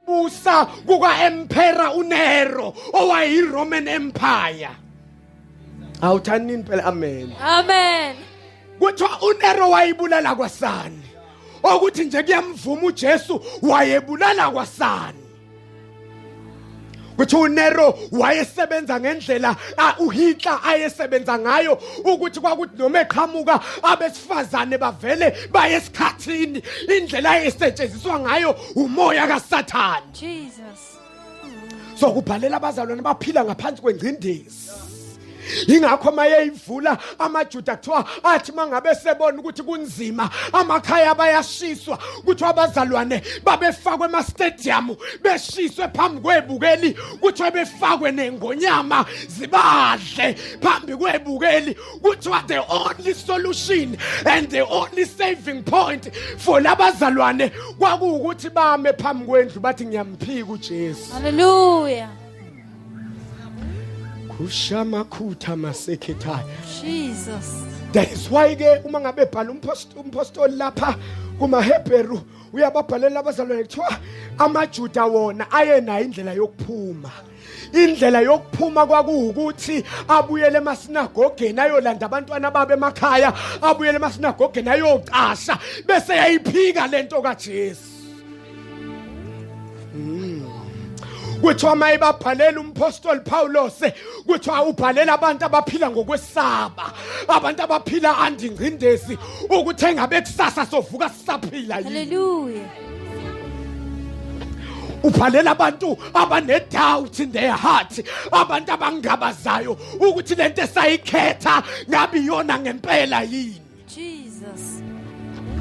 busa kuka-emphera unero owayiroman empire awuthandini phela amen Amen. kuthiwa unero wayibulala kwasani okuthi nje kuyamvuma ujesu wayebulala kwasani kuthi uNero wayesebenza ngendlela uHitler ayesebenza ngayo ukuthi kwakuthi noma eqhamuka abesifazane bavele bayesikhathini indlela esetshenziswa ngayo umoya kaSathane Jesus sokubhalela abazalwane baphila ngaphansi kwengcindezi yingakho uma yeyivula amajuda kuthiwa athi uma ngabe sebona ukuthi kunzima amakhaya abayashiswa kuthiwa abazalwane babefakwe emastadiyamu beshiswe phambi kwebukeli kuthiwa befakwe nengonyama zibadle phambi kwebukeli kuthiwa the only solution and the only saving point for labazalwane kwakuwukuthi bame phambi kwendlu bathi ngiyamphika ujesu haleluya kushamakhutha masekhethaya jesus that is why ke uma ngabe bhala umpostoli lapha kumahebheru uyababhalela abazalwane kuthiwa amajuda wona ayenayo indlela yokuphuma indlela yokuphuma kwakuwukuthi abuyele emasinagogeni ayolanda abantwana babe emakhaya abuyele emasinagogeni ayocasha bese yayiphika lento kaJesu kuthiwa uma ebabhalela umpostoli Pawulos kuthiwa ubhalela abantu abaphila ngokwesaba abantu abaphila andingcindezi ukuthi engabe kusasa sovuka sisaphila yini haleluya ubhalela abantu abanedoubt in their heart abantu abangabazayo ukuthi lento esayikhetha ngabe iyona ngempela yini Jesus.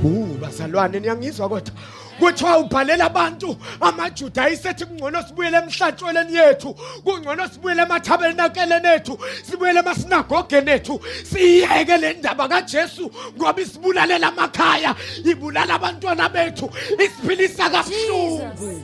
Uh, bazalwane niyangizwa kodwa kuthiwa ubhalela abantu amajuda ayisethi kungcono sibuyele emhlatshweleni yethu kungcono sibuyele emathabernakeleni ethu sibuyele emasinagogeni ethu siyeke le ndaba kajesu ngoba isibulalela amakhaya ibulala abantwana bethu isiphilisa kabuhlungu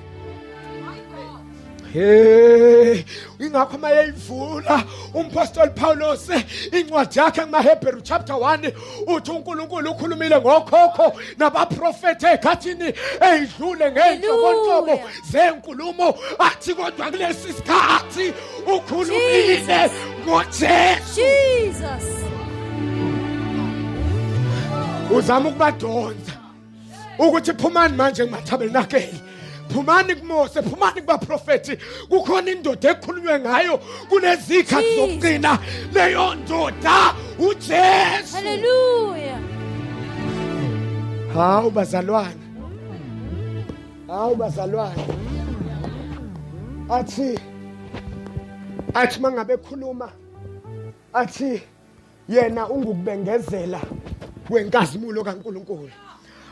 Hey, ingakho uma yeyivula umpostoli Paulos incwadi yakhe kumaHebheru chapter 1 uthi uNkulunkulu ukhulumile ngokhokho nabaprofeti ekhathini eyidlule ngeyinhlobonhlobo zenkulumo athi kodwa kulesi sikhathi ukhulumile ngoJesu Jesus uzama ukubadonsa ukuthi phumani manje kumathabernakeli phumani kumose phumani kubaprofethi kukhona indoda ekhulunywe ngayo kunezikhathi zokugcina leyo ndoda ujesu haleluya hawu bazalwane hawu bazalwane athi athi mangabe khuluma athi yena ungukubengezela kwenkazimulo kaNkuluNkulu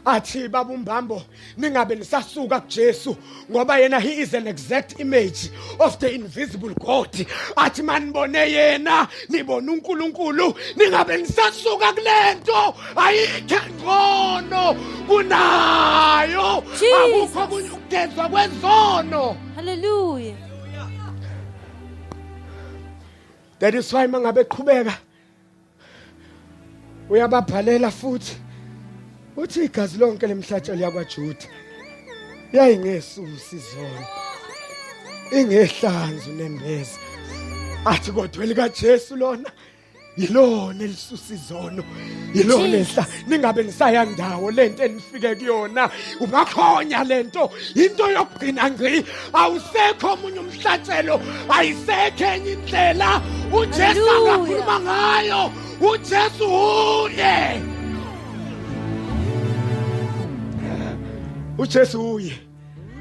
athi baba umbambo ningabe nisasuka kuJesu ngoba yena he is an exact image of the invisible God athi manibone yena nibona uNkulunkulu ningabe nisasuka kulento ayikho ngcono kunayo akukho kunye ukugezwa kwezono haleluya that is why mangabe qhubeka uyababhalela futhi uthi igazi lonke lemhlatshelo yakwaJuda yayingesusi izona ingehlanzu nembeza athi kodwa elikaJesu lona yilona elisusa izono yilo lehla ningabe nisaya ndawo lento enifike kuyona ubakhonya lento into yokugcina ngci awusekho omunye umhlatshelo ayisekho enye indlela uJesu akakhuluma ngayo uJesu uye uJesu uye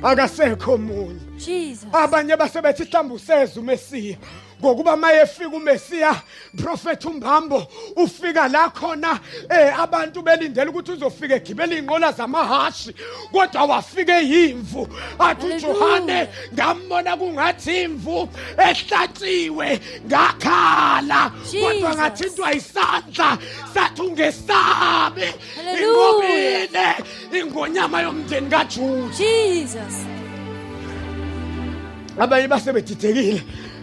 akasekho omunye Jesus. abanye basebethi mhlawumbe useza umesiya ngokuba mayefika umesiya profet umbambo ufika la khona eh abantu belindele ukuthi uzofika egibela inqola zamahashi kodwa wafike yimvu athi uJohane ngambona kungathi imvu ehlatshiwe ngakhala kodwa ngathintwa isandla sathi ungesabi ingobile ingonyama yomndeni kaJuda Jesus abanye basebedidekile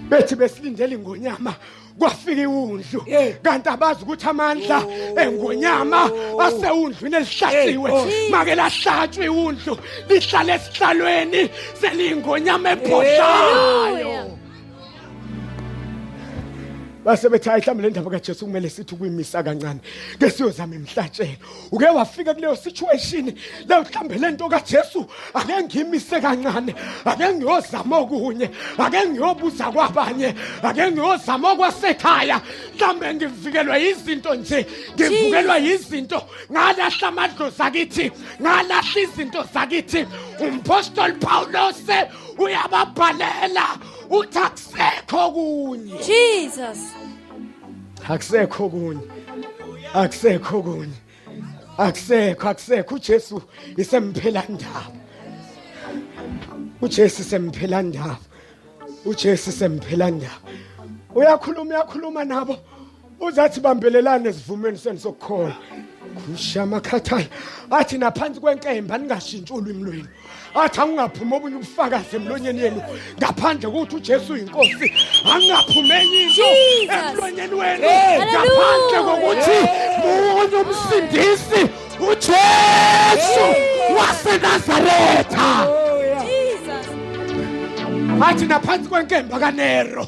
bethi besilindele ingonyama kwafika iwundlu kanti abazi ukuthi amandla oh. engonyama oh. asewundlwini elihlaziwe oh. make lahlatshwa iwundlu lihlale esihlalweni seliyingonyama ebhodlayo base bethi ayihlambe le ndaba kaJesu kumele sithi kuyimisa kancane ke siyozama imhlatshelo uke wafika kuleyo situation leyo mhlambe lento kaJesu ake ngimise kancane ake ngiyozama okunye ake ngiyobuza kwabanye ake ngiyozama kwasekhaya mhlambe ngivikelwa izinto nje ngivukelwa izinto ngalahla amadlozi akithi ngalahla izinto zakithi umpostoli Paulos uyababhalela uthi akusekho kunye Jesus akusekho kunye akusekho kunye akusekho akusekho uJesu isemphela ndaba uJesu isemphela ndaba uJesu isemphela ndaba uyakhuluma uyakhuluma nabo uzathi bambelelane esivumeni senu sokukholwa kushamakhathayo athi naphansi kwenkemba ningashintshi ulwimi lwenu athi angingaphumi obunye ubufakazi emlonyeni yenu ngaphandle kokuthi uJesu uyinkosi angingaphumi enye into emlonyeni wenu ngaphandle kokuthi munye umsindisi uJesu waseNazaretha athi naphansi kwenkemba kaNero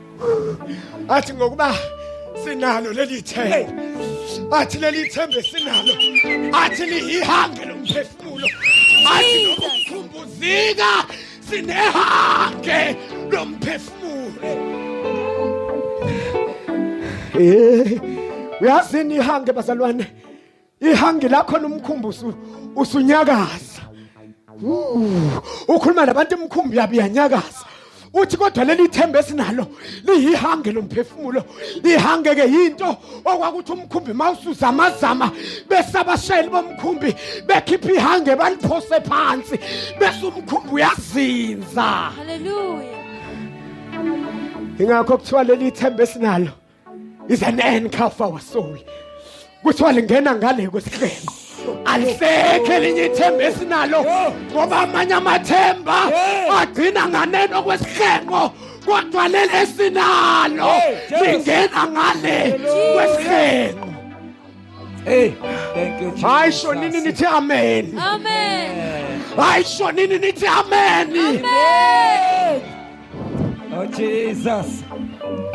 athi ngokuba sinalo leli themba athi leli themba esinalo athi liyihange lomphefumulo athi nokukhumbuzika sinehange lomphefumulo eh uyazini ihange bazalwane ihangi lakho nomkhumbuzo usunyakaza ukhuluma nabantu emkhumbi yabi yanyakaza uthi kodwa leli themba esinalo liyihange lomphefumulo ihange ke yinto okwakuthi umkhumbi mawusuza amazama bese abashayeli bomkhumbi bekhipha ihange baliphose phansi bese umkhumbi uyazinza haleluya ingakho kuthiwa leli themba esinalo is an anchor for our soul kuthiwa lingena ngale kwesihlelo alisekho elinye ithemba esinalo ngoba amanye amathemba agcina nganeno kwesihlengo kodwa leli esinalo lingena ngale kwesihlengo Hey, thank you, Jesus. Hayi shonini nithi amen. Amen. Hayi shonini nithi amen. Amen. Oh Jesus.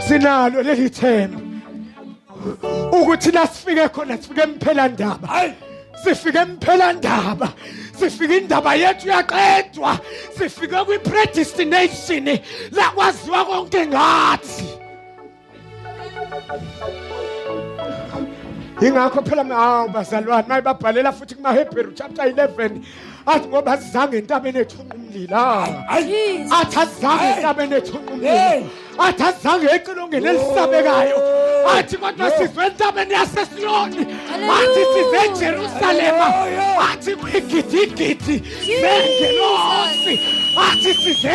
Sinalo leli themba. Ukuthi la sifike khona sifike emphela ndaba. Hayi. Sifike emphela ndaba. Sifike indaba yethu yaqedwa. Sifike kwi predestination la kwaziwa konke ngathi. ingakho phela hawu bazalwane maye babhalela futhi kumahebheru chapter 11 athi ngoba azizange entabeni ethunqa umlilo athi azizange entabeni ethunqa umlilo athi azizange ecilongeni elisabekayo athi kodwa sizwe entabeni yasesiyoni athi size ejerusalema athi kwigidigidi zengelosi athi size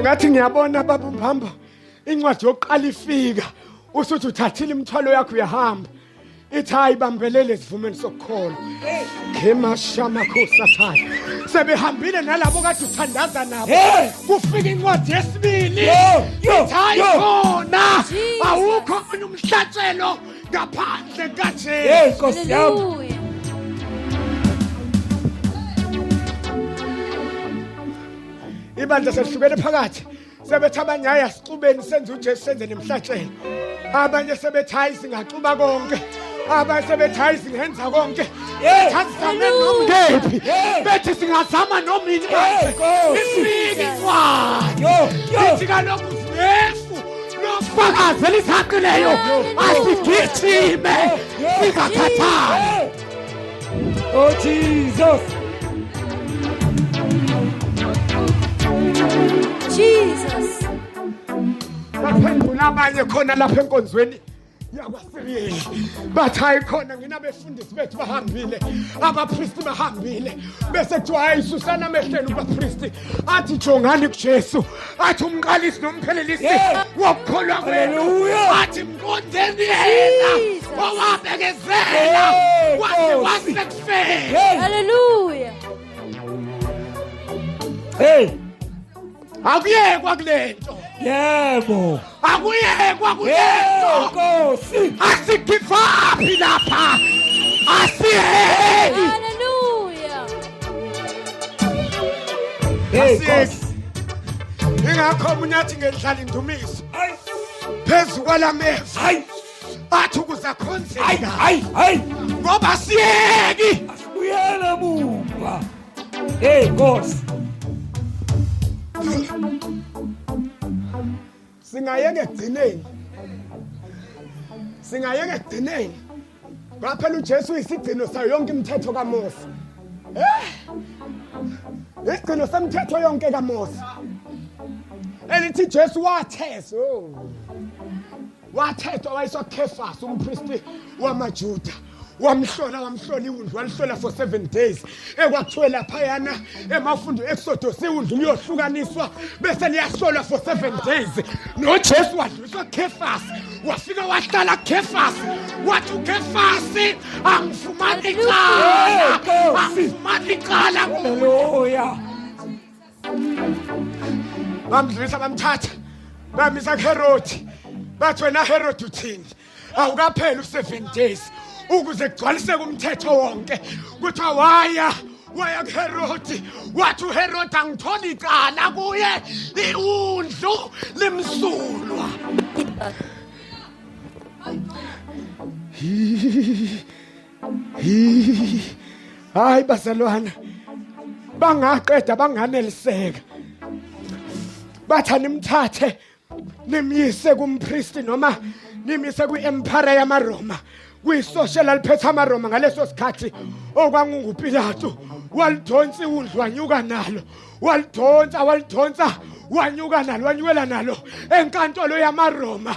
ngathi ngiyabona baba umphambo incwadi yokuqala ifika usuthi uthathile imithwalo yakho uyahamba ithi hayi bambelele esivumeni sokukholwa ngemashamakhosathaya sebehambile nalabo kade uthandaza nabo kufika incwadi yesibili ithi hayi khona awukho umhlatshelo ngaphandle kaJesu hey nkosi yami Hallelujah. ibandla selihlukene phakathi sebethi abanye hayi asixubeni senze ujesu senze nemhlatshelo abanye sebethi hayi singaxuba konke abanye sebethi hayi singenza konke kephi bethi singazama noma ini ifike kwayo ithi kaloku yesu lofakazi elisaqileyo asigijime singakhathali oh jesus jesus baphendula abanye khona lapha enkonzweni yakwasiriyeli bathi hayi khona ngina befundisi bethu bahambile abapristi bahambile bese kuthiwa hayi susana amehleni kubapristi athi jongani kujesu athi umqalisi nomphelelisi wokukholwa kwenu athi mqondeni yena owabekezela wathi wasekufeni haleluya hey akuyekwa kule nto yebo akuyekwa kule nto nkosi asikhiphapi lapha asiheli Hallelujah. Hey, Nkosi. ingakho omunye athi ngendlala indumiso Hayi, phezu kwala meva hayi, athi ukuze hayi, akhonzeka hayi, hayi. ngoba siyeki Asibuyele mumva. Hey boss. Singayeke egcineni. Singayeke egcineni. Ngaphela uJesu uyisigcino sayo yonke imithetho kaMose. Eh! Isigcino semthetho yonke kaMose. Elithi Jesu wathesa. Oh. wathethwa wayiswa khefasi umpristi wamajuda wamhlola wamhlola iwundlu walihlola for seven days ekwakuthiwe laphayana emafundo exodus iwundlu liyohlukaniswa bese liyahlolwa for seven days nojesu wadluliswa khefasi wafika wahlala khefasi wathi ukhefasi angifumani icala angifumani icala kuya bamdlulisa bamthatha bamisa kuherodi bathi wena herodi uthini awukapheli u-seven days ukuze kugcwaliseke umthetho wonke kuthiwa waya waya kuherodi wathi uherodi angitholi icala kuye iwundlu limsulwa hayi bazalwana bangaqeda banganeliseka bathani mthathe nimyise kumpriest noma nimyise kwi-empire yamaroma kuyisoshe laliphethe amaroma ngaleso sikhathi okwangungupilato walidonsa iwundlu wanyuka nalo walidonsa walidonsa wanyuka nalo wanyukela nalo enkantolo yamaroma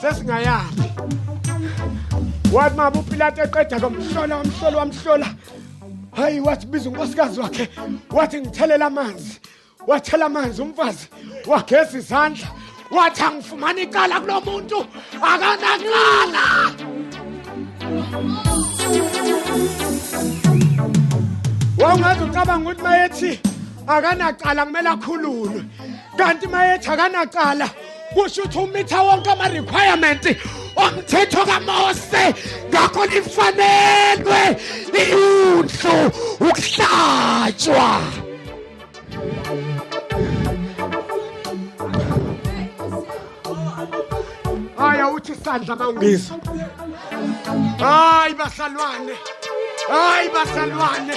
sesingayaphi wathi mama upilate eqeda komhlola wamhlola wamhlola hayi wathi biza unkosikazi wakhe wathi ngithelela amanzi wathela amanzi umfazi wageza izandla wathi angifumani icala kulo muntu akanacala wawungazi ucabanga ukuthi mayethi akanacala kumele akhululwe kanti mayethi akanacala kusho ukuthi umitha wonke ama-requirement omthetho kamose ngakho lifanelwe iyundlu ukuhlatshwa hayi awuthi isandla ma ungizwa hayi basalwane hayi basalwane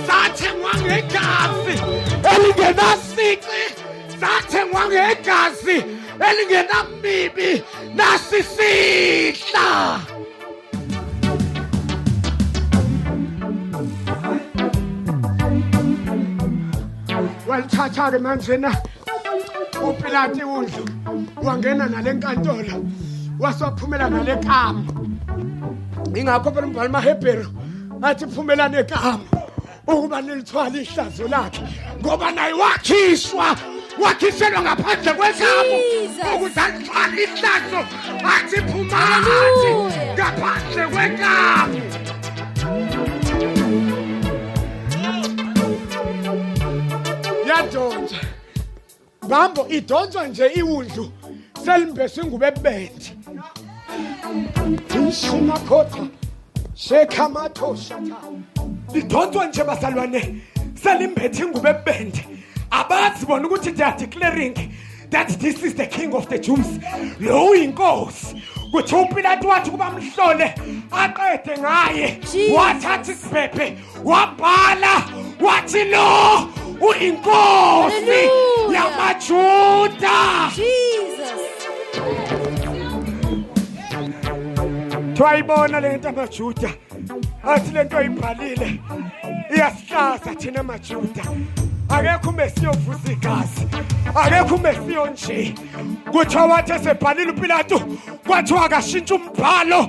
sathengwa ngegazi elingenasici sathengwa ngegazi elingenamibi nasisihla walithatha-ke manje na upilati udlu wangena nale nkantolo wasophumela nale kama ingakho phela umbhali mahebheru athi phumelane kama ukuba nilithwala ihlazo lakhe ngoba naye wakhiswa wakhiselwa ngaphandle kwezabo ukuze alithwala ihlazo athi phumati ngaphandle kwenkabi yadonsa Bambo idonswa nje iwundlu selimbeswe ngubebende. Ishuma khotha shekha mathosha cha. Idonswa nje bazalwane selimbethe ngubebende. Abazi bona ukuthi they are declaring that this is the king of the Jews. Lo uyinkosi. Kuthi uPilate wathi kuba mhlole aqede ngaye wathatha isibhebhe wabhala wathi lo uyinkosi yamajuda twayibona le nto amajuda athi le nto ayibhalile iyasihlaza thina majuda akekho umesi yovusa igazi akekho umesi yonje kuthiwa wathi esebhalile upilatu kwathiwa akashintsha umbhalo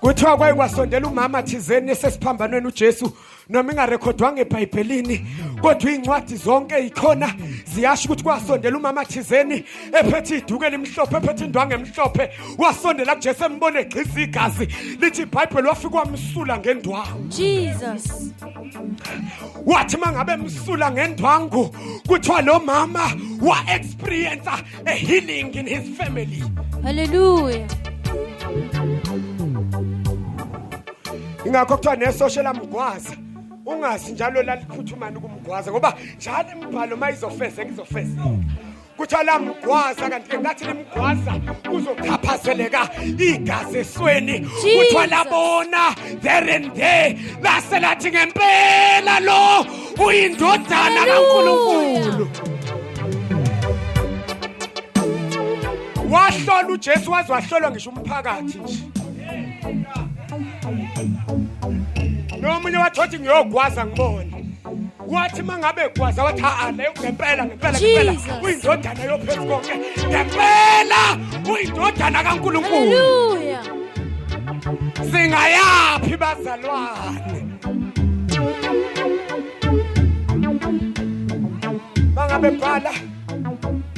kuthiwa kwaye kwasondela umama thizeni esesiphambanweni uJesu noma ingarekhodwanga ebhayibhelini kodwa iy'ncwadi zonke yikhona ziyasho ukuthi kwasondela umama thizeni ephethe iduku elimhlophe ephethe indwangu emhlophe wasondela kujesu embona egxisa igazi lithi ibhayibheli wafike wamsula ngendwangu jesus wathi uma ngabe emsula ngendwangu kuthiwa lo mama wa-experiensa a healing in his family. Hallelujah. ingakho kuthiwa nesosha elamgwaza ungazi njalo laliphuthumayo ukumgwaza ngoba njalo imibhalo uma izofezeka izofezeka kuthiwa lamgwaza kanti ke ngathi limgwaza kuzochaphazeleka igazi esweni kuthiwa labona there and there lase lathi ngempela lo uyindodana kaNkulunkulu wahlola uJesu waze wahlolwa ngisho umphakathi nje nomunye wathothi ngiyogwaza ngibone wathi mangabe gwaza wathi haa le ngempela ngempela ngempela Jesus. uyindodana yophezu konke ngempela uyindodana kaNkulunkulu Hallelujah. singayaphi bazalwane bebhala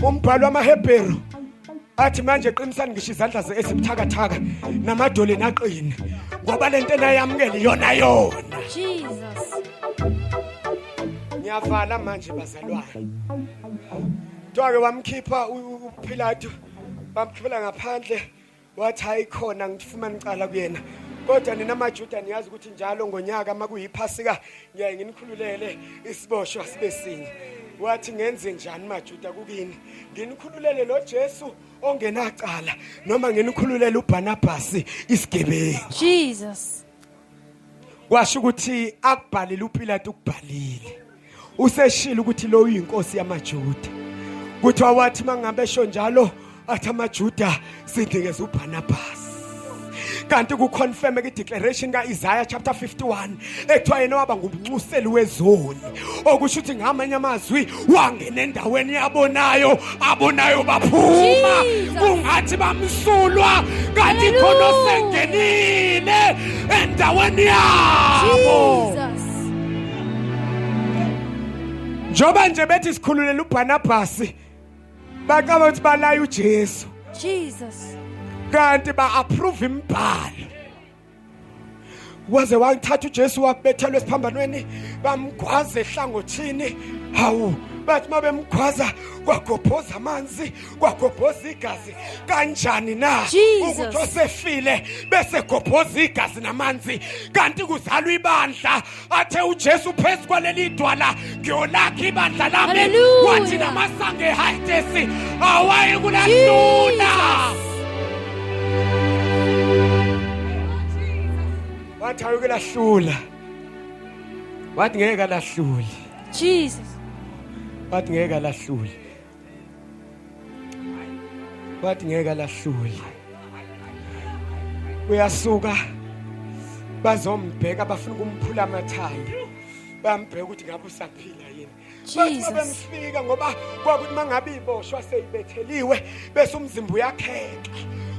umbhalo wamaHebheru athi manje qinisani ngisho izandla ze esibuthakathaka namadole naqine ngoba lento enayamukela iyona yona Jesus ngiyavala manje bazalwane Twake wamkhipha uPhilato bamkhipha ngaphandle wathi hayi khona ngifumana icala kuyena kodwa nina majuda niyazi ukuthi njalo ngonyaka uma kuyiphasika ngiyaye nginikhululele isiboshwa sibe sinye wathi ngenze njani majuda kukini nginikhululele lo jesu ongenacala noma nginikhululele ubhanabhasi isigebengu jesus kwasho ukuthi akubhalile uPilate ukubhalile useshilo ukuthi lo uyinkosi yamaJuda kuthiwa wathi mangabe esho njalo athi amaJuda sidingeza uBarnabas kanti kuconfirm ke declaration kaIsaiah chapter 51 ekuthiwa yena waba ngumnxuseli wezoni okusho ukuthi ngamanye amazwi wangena endaweni yabonayo abonayo baphuma kungathi bamsulwa kanti khona osengenile endaweni yabo njengoba nje bethi sikhululela ubhanabhasi bacaba ukuthi balaya ujesu jesus kanti ba-approve imibhalo waze wangithatha uJesu wakubethelwa esiphambanweni bamgwaza ehlangothini hawu bathi uma bemgwaza kwagobhoza amanzi kwagobhoza igazi kanjani na ukuthi osefile bese gobhoza igazi namanzi kanti kuzalwa ibandla athe uJesu phezu kwaleli dwala ngiyolakha ibandla lami Hallelujah. wathi namasango ehayitesi awaye kulalula wathi awuke lahlula wathi ngeke lahlule Jesus. wathi ngeke lahlule bathi ngeke alahlule uyasuka bazombheka bafuna ukumphula amathanda bambheka ukuthi ngabe usaphila yini bathi bemfika ngoba kwakuthi mangabe iboshwa seyibetheliwe bese umzimba uyakheka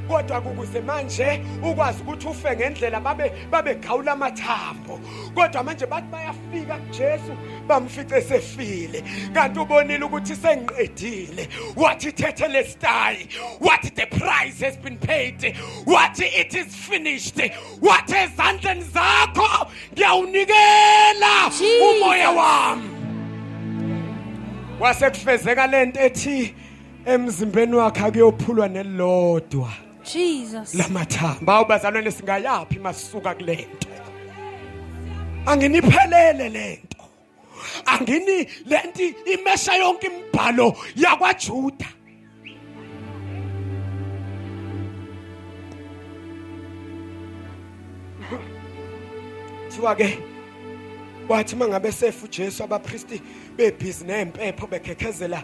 kodwa kukuze manje ukwazi ukuthi ufe ngendlela babe babegawula amathambo kodwa manje bathi baya bafika kuJesu bamfice sefile kanti ubonile ukuthi sengiqedile wathi thethe lesitayi wathi the price has been paid wathi it is finished wathi ezandleni zakho ngiyawunikela umoya wami wasekufezeka lento ethi emzimbeni wakhe akuyophulwa nelodwa Jesus. Lamathambo. Bawo bazalwane singayaphi masuka kulento. Anginiphelele lento. Angini lenti imesha yonke imibhalo yakwaJuda. Thiwa ke wathi mangabe sefu Jesu abapristi bebhizi nempepho bekhekhezela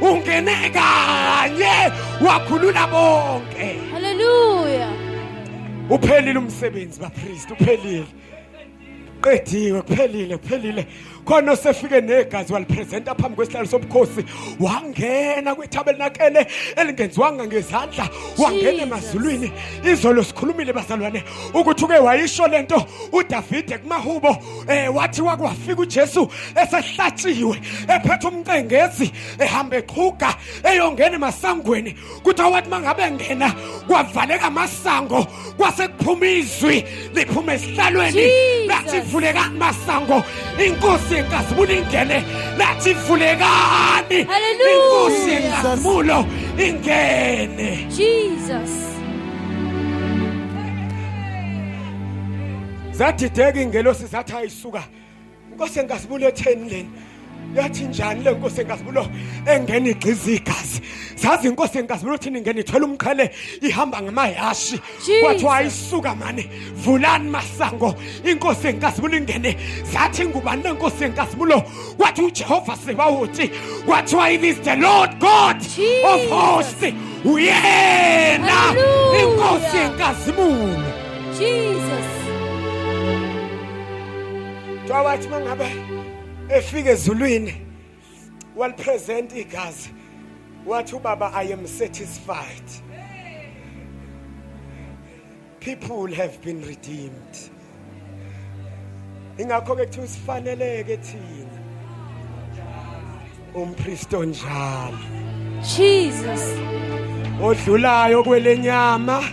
ungene kanye wakhulula bonke haleluya uphelile umsebenzi bapriest uphelile qediwe kuphelile kuphelile khona osefike negazi walipresenta phambi kwesihlalo sobukhosi wangena kwithabernakele elingenziwanga ngezandla wangena emazulwini izolo sikhulumile bazalwane ukuthi uke wayisho lento udavide kumahubo eh wathi wakwafika uJesu esehlatshiwe ephethe umcengezi ehamba eqhuga eyongena emasangweni kuthi awathi mangabe ngena kwavaleka amasango kwase kuphuma izwi liphuma esihlalweni lathi vuleka amasango inkosi yenkazimulo ingene lathi vulekani inkosi yenkazimulo ingene Jesus zadideka ingelosi zathi ayisuka inkosi engazibulo etheni leni yathi njani le nkosi engazibulo engena igqiza igazi zazi inkosi engazibulo thini ingena ithwele umqhele ihamba ngamayashi kwathiwa ayisuka mani vulani masango inkosi engazibulo ingene zathi ngubani le nkosi engazibulo wathi ujehova sebawuthi kwathiwa it is the lord god Jesus. of hosts uyena inkosi enkazimulo Jesus. Kuthiwa wathi uma ngabe efika ezulwini walipresenta igazi wathi ubaba I am satisfied. People have been redeemed. Ingakho ke kuthiwa sifaneleke thina umpriest onjalo Jesus odlulayo kwelenyama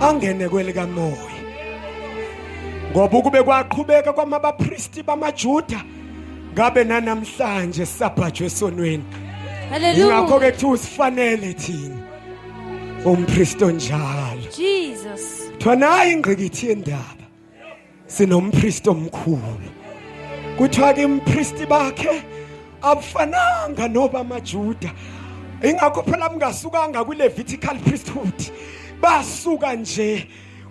angene kwelikamoya ngoba ukube kwaqhubeka kwamabapristi bamaJuda ngabe nanamhlanje sabhajwe sonweni haleluya ngakho ke thi usifanele thina umpriest onjalo Jesus thwanayi ingqikithi yendaba sinompristi omkhulu kuthiwa ke umpristi bakhe abufananga noba amajuda ingakho phela mungasukanga kwi-levitical priesthood basuka nje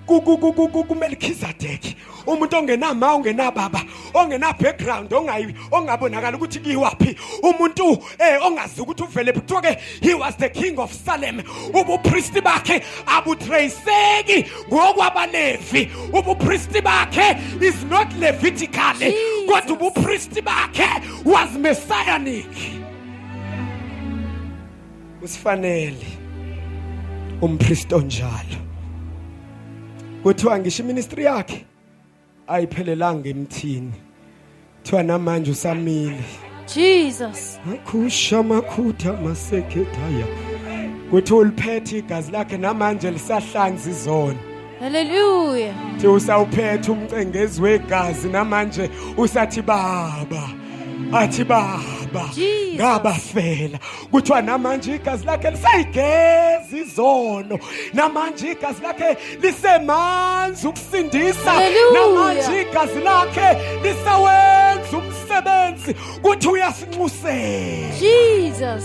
kumelkhizadeki umuntu ongenama ungenababa ongena background ongayi ongabonakala ukuthi kiwaphi umuntu eh ongazi ukuthi uvele kuthiwa ke he was the king of Salem ubupristi bakhe abutraceki ngokwabalevi ubupristi bakhe is not levitical kodwa ubupristi bakhe was messianic usifanele umpristi onjalo kuthiwa ngisho iministry yakhe ayiphelelanga emthini kuthiwa namanje usamile jesus akhusha amakhutha masekhethaya kuthi uliphethe igazi lakhe namanje lisahlanza izona haleluya thi usawuphethe umcengezi wegazi namanje usathi baba athi baba ngabafela kuthiwa namanje igazi lakhe lisayigeza izono namanje igazi lakhe lisemanzi ukusindisa namanje igazi lakhe lisawenza umsebenzi kuthi uyasinxusela Jesus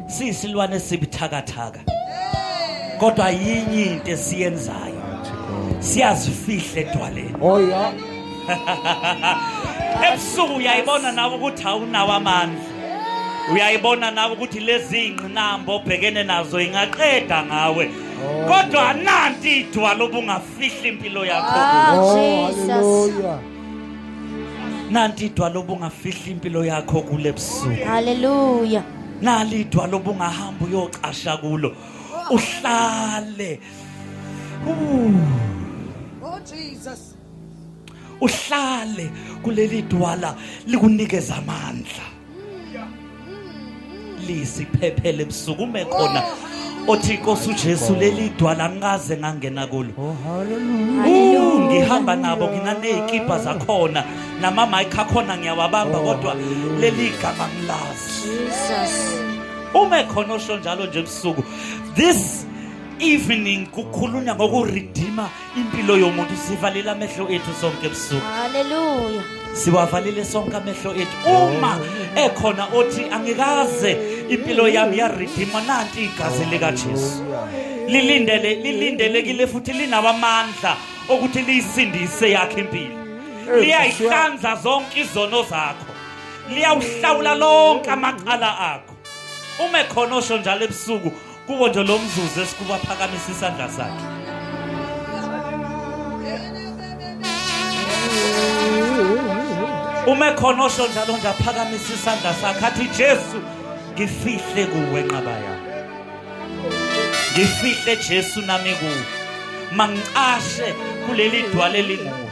siyisilwane sibuthakathaka kodwa yinye into esiyenzayo siyazifihle edwaleni oh yeah ebusuku uyayibona nawe ukuthi awunawo amandla uyayibona nawe ukuthi lezi ngqinamba obhekene nazo ingaqeda ngawe oh. kodwa nanti idwala obungafihli impilo yakho ah, oh, hallelujah nanti idwala obungafihla impilo yakho kule busuku haleluya nali idwala obungahamba uyocasha kulo uhlale oh jesus uhlale kuleli dwala likunikeza amandla lisi phephele busukume khona othi inkosi uJesu leli dwala ngikaze ngangena kulo oh, haleluya ngihamba nabo nginanezikibha zakhona nama mic akhona ngiyawabamba oh, kodwa leli igama ngilazi Jesus uma ekhona osho njalo nje ebusuku this evening kukhulunywa ngokuredeemer impilo yomuntu sivalile amehlo ethu sonke ebusuku haleluya siwavalile sonke amehlo ethu uma ekhona othi angikaze impilo yami yaridima nanti igazi likaJesu lilindele lilindelekile futhi linabamandla okuthi liyisindise yakhe impilo liyayihlanza zonke izono zakho liyawuhlawula lonke amacala akho uma ekhona osho njalo ebusuku kuwo nje lo mzuzu esikuba phakamisa isandla sakhe uma ekhona osho njalo nje aphakamisa isandla sakhe athi jesu ngifihle kuwe nqaba yami ngifihle jesu nami kuwe mangicashe kuleli dwale linguwe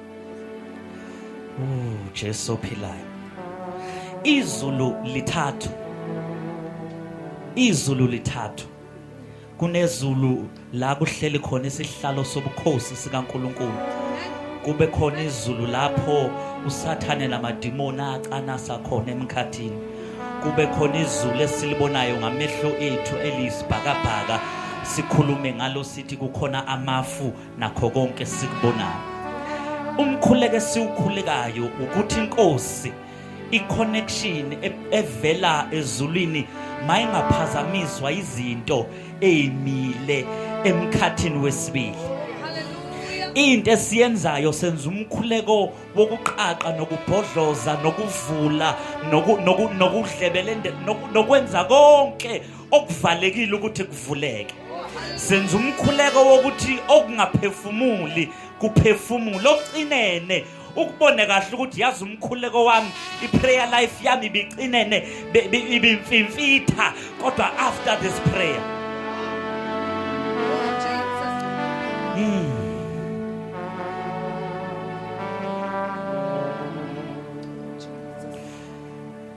Jesu ophilayo izulu lithathu izulu lithathu kunezulu la kuhleli khona isihlalo sobukhosi sikaNkuluNkulu kube khona izulu lapho usathane namadimoni acanasa khona emkhathini kube khona izulu esilibonayo ngamehlo ethu eliyisibhakabhaka sikhulume ngalo sithi kukhona amafu nakho konke sikubonayo umkhuleke siwukhulekayo ukuthi inkosi iconnection e-, evela ezulwini mayingaphazamiswa izinto ezimile emkhathini wesibili into esiyenzayo senza umkhuleko wokuqaqa nokubhodloza nokuvula nokudlebelende nokwenza konke okuvalekile ukuthi kuvuleke senza umkhuleko wokuthi okungaphefumuli kuphefumule okucinene ukubone kahle ukuthi yazi umkhuleko wami iprayer life yami ibicinene ibimfimfitha kodwa after this prayer mm.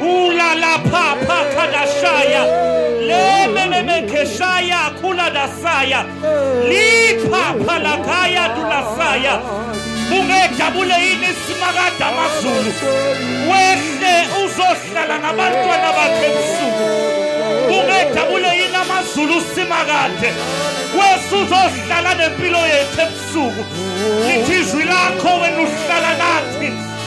Ula la pa pa kadashaya. Le me me me keshaya kula dasaya. Li pa pa la kaya dulasaya. Ungejabule yini simakade amazulu. Wehle uzohlala nabantwana bakhe ebusuku. Ungejabule yini amazulu simakade. Wesu uzohlala nempilo yethu ebusuku. Lithi izwi lakho wena uhlala nathi.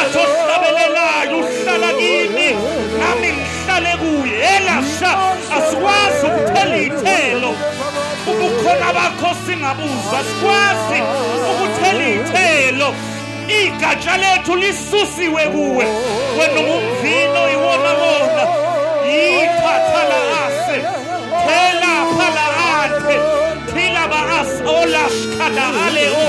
azohlabelelayo uhlala kimi nami ngihlale kuye elasha asikwazi ukuthela iy'thelo ubukhona bakho singabuzwa sikwazi ukuthela iy'thelo igatsha lethu lisusiwe kuwe wena ungumvino iwona wona yithatha la ase thela phala ante thila ba as olash kada ale o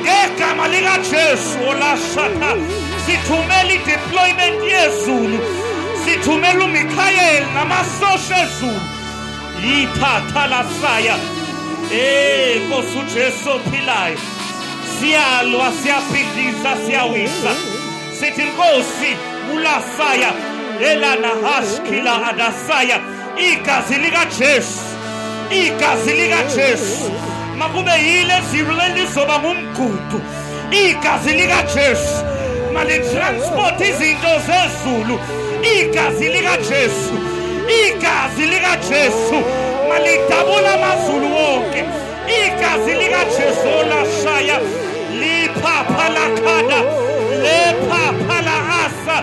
ngegama likaJesu olashata sithumela i-deployment yezulu sithumela uMikhayeli namasosha ezulu yithatha lasaya eh Nkosi uJesu ophilayo siyalwa siyabhidliza siyawisa sithi Nkosi ulasaya elana hashkila adasaya igazi likajesu igazi likajesu makube yile zilo lelizoba ngumgudu igazi likajesu malitransport izinto zezulu igazi likajesu igazi likajesu malidabula amazulu wonke igazi likajesu olashaya liphapha lakhada lephapha la asa